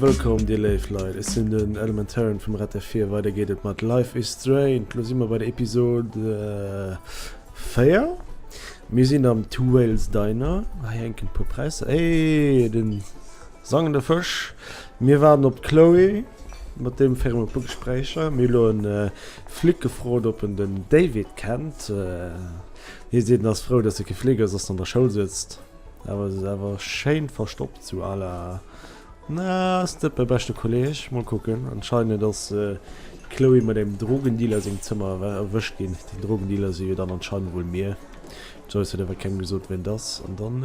Wëllkomm dir léif Leit, ech sinn den Elementaren vum Red FM4. Weider geet et mat Life is Strange. Lo si mer bei der Episod äh, 4. Mir sinn am Two Whales Diner. Hei hänken e puer Präisser. Eeee den. Sangen de Fësch. Mir waarden op d'Chloé mat deem fir emol puer Gespréicher. Mir hu lo en Flic gefrot op en den David kennt. Hie seet en ass frou dass e kee Flic ass, ass an der Schoul sëtzt awer se awer schéin verstoppt sou à la na ass dat mäi beschte Kolleg? Mol kucken. Anscheinend ass d'Chloé mat engem Drogendealer sengem Zëmmer erwëscht ginn. Den Drogendealer si jo dann anscheinend wuel mir. D'Joyce huet awer kengem gesot ween et ass an dann.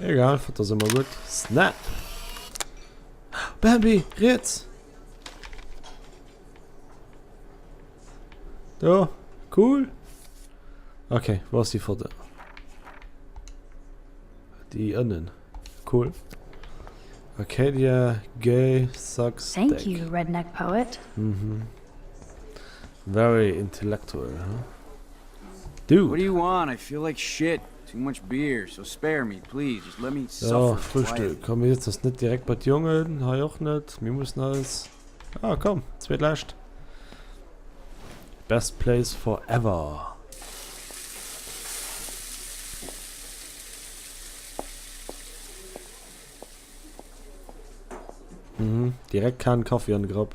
Egal, fëtt ass ëmmer gutt. Snap! Bambi, riets! Do, cool! Okay, wo ass déi Foto? Déi ënnen. Cool. Arcadia, Gay, Sucks, Thank Deck. you, Redneck Poet. Mhm. Very intellectual, huh? Dude! What do you want? I feel like shit! Too much beer, so spare me, please, just let me suffer quietly. Jo, Frühstück. Komm, mir sitzen ons net direkt bei d'Jongen, hei och net. Mir mussen eis. Ah, komm, zweet lescht. Best place for ever. Mhm, direkt kaan Kaffi an de Grapp.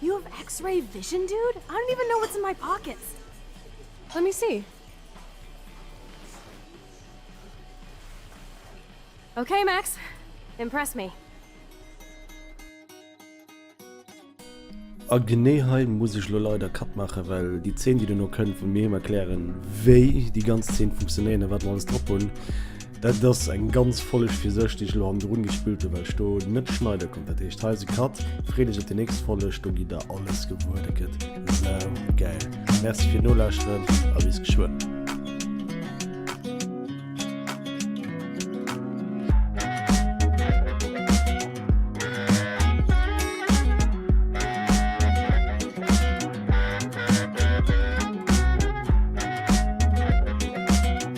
You have X-ray vision, dude? I don't even know what's in my pockets. Let me see. Okay, Max. Impress me. A genee hei muss ech lo leider Cut maachen, well déi Zeen, déi duerno kënnt, wou mir him erklären, wéi déi ganz Zeen funktionéieren a wat mer alles drop hunn, Dat ass eng ganz Folleg fir sech déi ech elo hannendrun gespillt hunn, well ech do net schneide konnt. Dat heescht hei ass e Cut. Freet iech op déi nächst Folleg, do gitt der alles gewuer. Dat gëtt saugäil. Merci fir d'Nolauschteren a bis geschwënn.